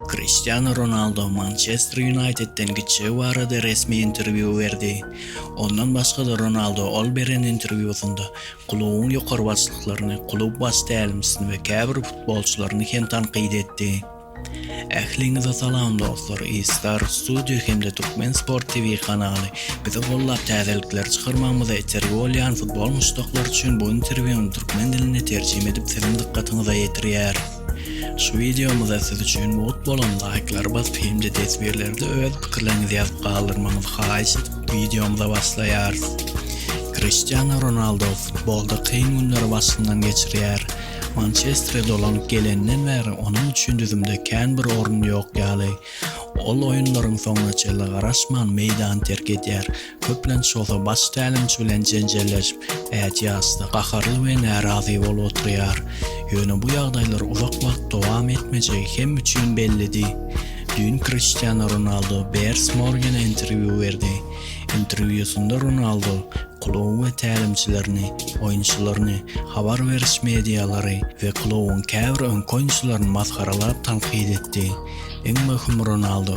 Kriştianu Ronaldo Mançester Ýunaýtedden gitjegi barada resmi interwýu berdi. Ondan başga-da Ronaldo ol beren interwýusynda klubuň ýokary başlyklaryny, klub baş tälimçisini we käbir futbolçylaryny hem tankyt etdi. Ähliňize salam dostlar, Iskar Studio hem-de Türkmen Sport TV kanaly bizi gollap täzelikler çykarmagymyza itergi bolýan futbol muşdaklary üçin bu interwýuny türkmen diline terjime edip siziň dykgatyňyza ýetirýär. Şu wideomyza siz üçin mugt bolan laýklary basyp hem-de teswirlerde öz pikirleriňizi ýazyp galdyrmagyňyzy haýyş edip wideomyza başlaýarys. Kriştiano Ronaldo futbolda kyn günleri başyndan geçirýär. Mançestere dolanyp geleninden bäri onuň üçin düzümde kän bir orun ýok ýaly. Ol oýunlaryň soňuna çenli garaşman meýdany terk edýär, Köplenç bolsa baş tälimçi bilen jenjelleşip, ätiýaçda gaharly we närazy bolup oturýar. Ýöne bu ýagdaýlar uzak wagt dowam etmejegi hem üçin bellidi. Düýn Kriştianu Ronaldu Bears Morgene interwýu berdi. Interwýusynda Ronaldu kluby we tälimçilerini, oýunçylaryny, habar beriş medialary we klubyň käbir öňki oýunçylaryny masgaralap tankyt etdi. Iň möhüm Ronaldu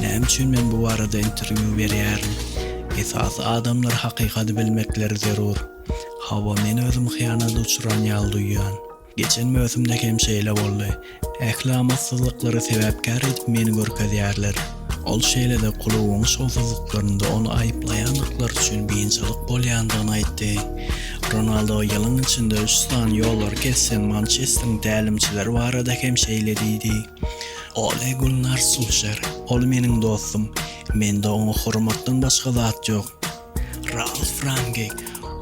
Näme üçin men bu barada interwýu berýärin? Esasy adamlar hakykady bilmekleri zerur. Hawa men özüm hyýanat uçran ýaly duýýan. Geçen möwsümde hem şeýle boldy. Ähli amatsyzlyklary sebäpkär edip meni görkezýärler. Ol şeýle-de klubyň şowsuzlyklarynda ony aýyplaýandyklary üçin biynjalyk bolýandygyny aýtdy. Ronaldo ýylyň içinde üç sany ýollary kessem Mançesteriň tälimçileri barada hem şeýle diýdi. Ole Gunnar Sulşer, Ol meniň dostum. Mende oňa hormatdan başga zat ýok. Ralf Rangnik,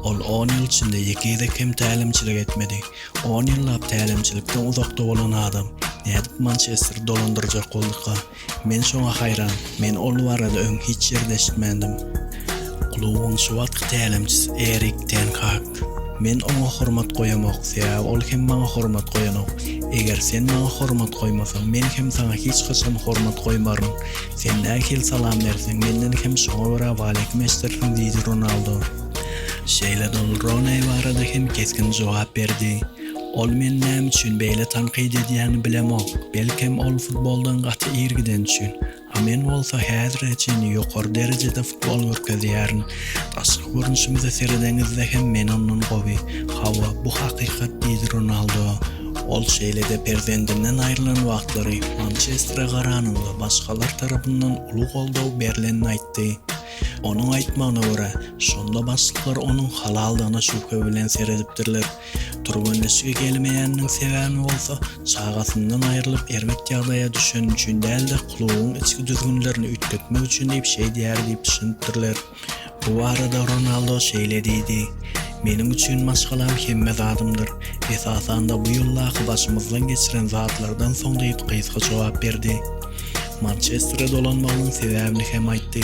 Ol on ýyl içinde ýeke gezek hem tälimçilik etmedi. On ýyllap tälimçilikden uzakda bolan adam nädip Mançesteri dolandyrjak bolduka? Men şoňa haýran. Men ol barada öň hiç ýerde eşitmändim. Klubuň şu wagtky tälimçisi Erik ten Hag, Men oňa hormat goýamok, sebäbi ol hem maňa hormat goýanok. Eger sen maňa hormat goýmasaň, men hem saňa hiç haçan hormat goýmaryn. Sen nähili salam berseň, menden hem şoňa görä waleýkim eşdersiň diýdi Ronaldo. Şeýle-de ol Rooney barada hem kesgin jogap berdi. Ol meni näme üçin beýle tankyt edýänini bilemok. Belkem, ol futboldan gaty ir gideni üçin. A men bolsa häzire çenli ýokary derejede futbol görkezýärin. Daşky görnüşimize seredeňizde hem men ondan gowy. Hawa, bu hakykat diýdi Ronaldo. Ol şeýle-de perzendinden aýrylan wagtlary Mançestere garanyňda başgalar tarapyndan uly goldaw berlenini aýtdy. Onuň aýtmagyna görä, şonda başlyklar onuň halaldygyna şübhe bilen seredipdirler. Türgenleşige gelmeýäniniň sebäbi bolsa, çagasyndan aýrylyp, erbet ýagdaýa düşeni üçin däl-de, klubuň içki düzgünlerini üýtgetmek üçin diýip şeýdýär diýip düşünipdirler. Bu barada Ronaldo şeýle diýdi, Meniň üçin maşgalam hemme zadymdyr. Esasan-da, bu ýyldaky başymyzdan geçiren zatlardan soň diýip gysga jogap berdi. Mançestere dolanmagynyň sebäbini hem aýtdy.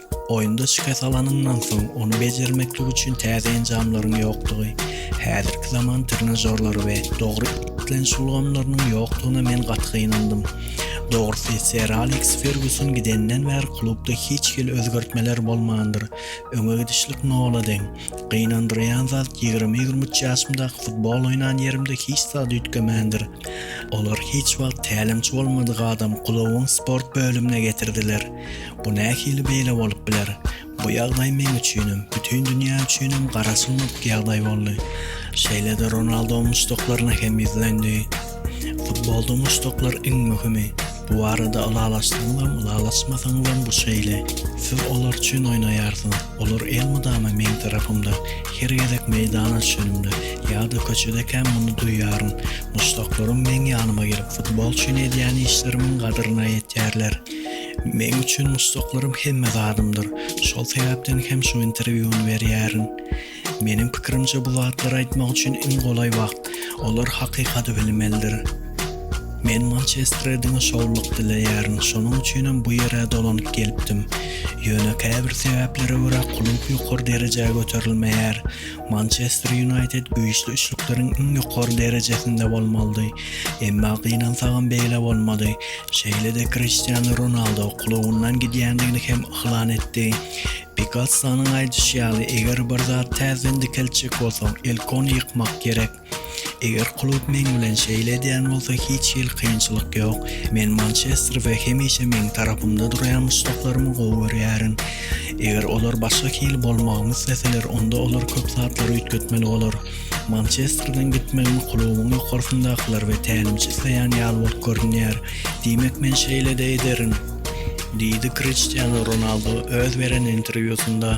Oýunda şikes alanyňdan soň, ony bejermeklik üçin täze enjamlaryň ýokdugy, häzirki zaman trenažorlary we dogry isleniş ulgamlarynyň ýokdugyna men gaty gynandym. Dogrusy, Ser Aleks Ferguson gidenden bäri klubda hiç hili özgertmeler bolmandyr. Öňe gidişlik nola deň. Gynandyrýan zat, ýigrimi-ýigrimi üç ýaşymdaky futbol oýnan ýerimde hiç zat üýtgemändir. Olar hiç wagt tälimçi bolmadyk adam Gulawyň sport bölümine getirdiler. Bu nähili beýle bolup biler? Bu ýagdaý meň üçinem, bütin dünýä üçinem gara sungat ýagdaý boldy. Şeýle-de Ronaldo muşdaklaryna hem ýüzlendi. Futbolda muşdaklar iň möhümi. Bu barada ylalaşsaňyzam, ylalaşmasaňyzam bu şeýle. Siz olar üçin oýnaýarsyňyz. Olar elmydama meň tarapymda. Her gezek meýdana düşenimde, ýa-da köçedekäm muny duýýaryn. Muşdaklarym meň ýanyma gelip, futbol üçin edýän işlerimiň gadryna ýetýärler. Meň üçin muşdaklarym hemme zadymdyr. Şol sebäpden hem şu interwýuny berýärin. Meniň pikirimçe bu zatlary aýtmak üçin iň golaý wagt. Olar hakykady bilmelidir. Men Mançestre diňe şowluk dileýärin. Şonuň üçinem bu ýere dolanyp gelipdim. Ýöne käbir sebäplere görä klub ýokary derejä göterilmeýär. Mançester Ýunaýted güýçli üçlükleriň iň ýokary derejesinde bolmalydy, emma gynansagam beýle bolmady. Şeýle-de Kriştianu Ronaldo klubyndan gidýändigini hem yglan etdi. Pikassonyň aýdyşy ýaly, eger bir zat täzeden dikeltjek bolsaň, ilk ony ýykmak gerek. Eger klub meň bilen şeýle edýän bolsa hiç hili kynçylyk ýok. Men Mançester we hemişe meň tarapymda durýan muşdaklarymy gowy görýärin. Eger olar başga hili bolmagymy isleseler onda olar köp zatlary üýtgetmeli bolar. Mançesterden gitmegimi klubuň ýokarsyndakylar we tälimçi isleýän ýaly bolup görünýär. Diýmek men şeýle-de ederin. Diýdi Kriştianu Ronaldu öz beren interwýusynda.